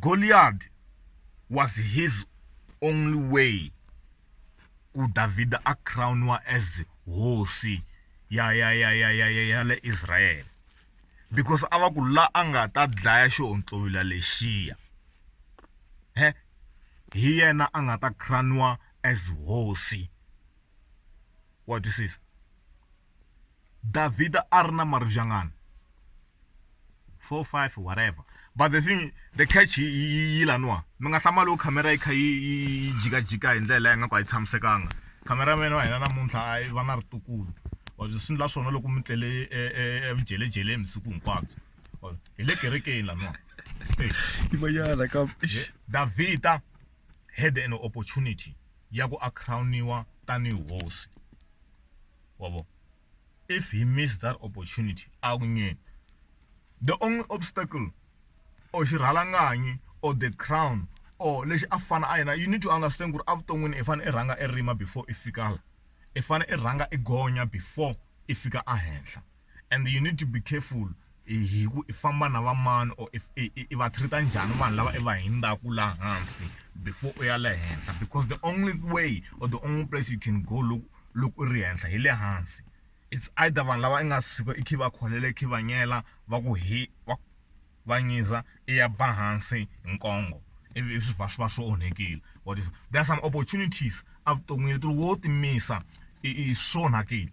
Goliath was his only way ku Davhida a crowniwa as hosi ya ya ya ya ya ya ya le Israel because a va ku la a nga ta dlaya xihontlowila lexiya he hi yena a nga ta crowniwa as hosi wa twisisa. Davhida a ri na maribye angani four five whatever but the thing the catch yi laniwa mi nga hlamali wo khamera yi kha yi yi jikajika hi ndlela leyi nga ku a yi tshamisekanga khamera mene wa hina namuntlha a yi va na ritukulu or swi endla swona loko mi tlele evudyeledyeleni vusiku hinkwabyo or hi le kerekeni laniwa yin'wanyana ka davhida had an opportunity ya ku a crown-iwa tanihi hosi wavo if he miss that opportunity a ku nyeni the only obstacle or xirhalanganyi or the crown or lexi a fana a yena you need to understand ku ri evuton'wini i fanele i rhanga i rima before i fika la i fanele i rhanga i gonya before i fika ehenhla and you need to be careful hi ku i famba na va mani or if i va treat njhani vanhu lava i va hindzaka laha hansi before u ya le henhla because the only way or the only place you can go loko loko u ri henhla hi le hansi it's either vanhu lava i nga suka i khe va kholela i khe va nyela va ku hi va va nyiza i ya ba hansi hi nkongo ivi swi va swi va swi onhekile what is there are some opportunities evuton'wini leti wo timisa i i swi onhakile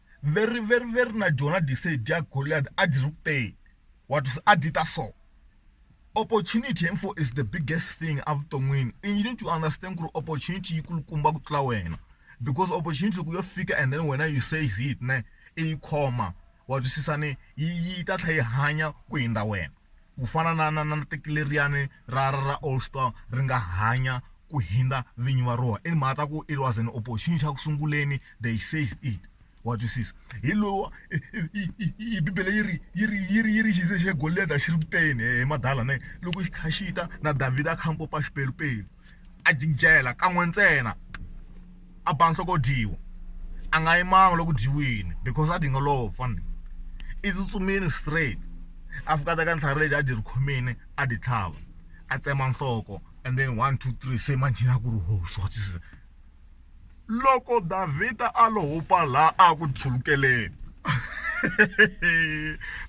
veri veri veri na dyona disei dya Goliath a dyi ri kuteni wa twisa a dyi ta so opportunity info is the biggest thing a vuton'wini and you need to understand ku ri opportunity yi kulukumba ku tlula wena because opportunity loko yo fika and then wena you says it ne i yi khoma wa twisisa ni yi yi ta tlhela yi hanya ku hundza wena. ku fana na na na teki leriyani ra ra ra All Star ri nga hanya ku hundza vinyi va rona i mhaka ku it was an opportunity xa ku sunguleni they says it wa twisisa hi lowa bibele yi ri yi ri yi ri yi ri xi ze xi golida xi ri kuteni he madala ne loko xi kha xi ta na Davhida a kha a pompa xipelupelu. a jinjela kan'we ntsena a ba nhloko dyiwa a nga yimanga loku dyiwini because a dinga lowo fana i tsutsumile straight a fika a teka ntlhari leti a dyi ri khomile a dyi tlhava a tsema nhloko and then one two three se manjhe a ku ri ho so se loko Davhida a lo hupa laha a ku tshwukeleni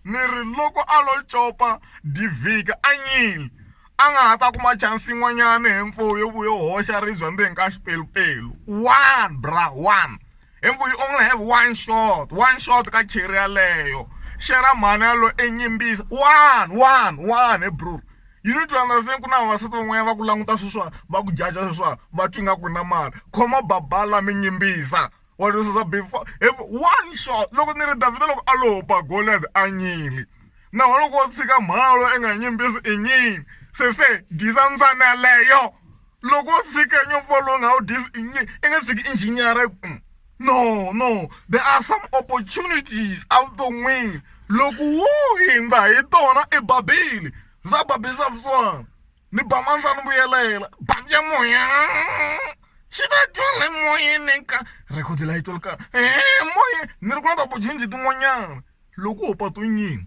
ni ri loko a lo copa Davhida a nyile. a nga ha ta kuma chance yin'wanyana he mfo yo vuya yo hoxa ribye ndzeni ka xipelupelu one bra one he mfo you only have one shot one shot ka cheri yaleyo xera mhani yalo enyimbisa one one one he bro you need to understand ku na vavasati van'wanyana va ku languta sweswiwa va ku jaja sweswiwa va twa ingaku u na mali khoma babala mi nyimbisa. Wa twi sisa before if one shot loko ni ri Davhida loko a lo ba Goliath a nyili naho loko wo tshika mhalo i nga nyimbisi i nyini se se disa mbyana leyo loko wo tshika nyofo lowu nga wu disi i nyini i nga tshiki injiniyara mm. no no there are some opportunities evuton'wini loko wo hindza hi tona i babile za babisa vusiwana ni ba mandza ni vuyelela bandi ya moya xi ta dyondza emoyeni ka rekhodi la yi tolo ka moya ni ri ku na ta bujinji tin'wanyana loko ho patu nyini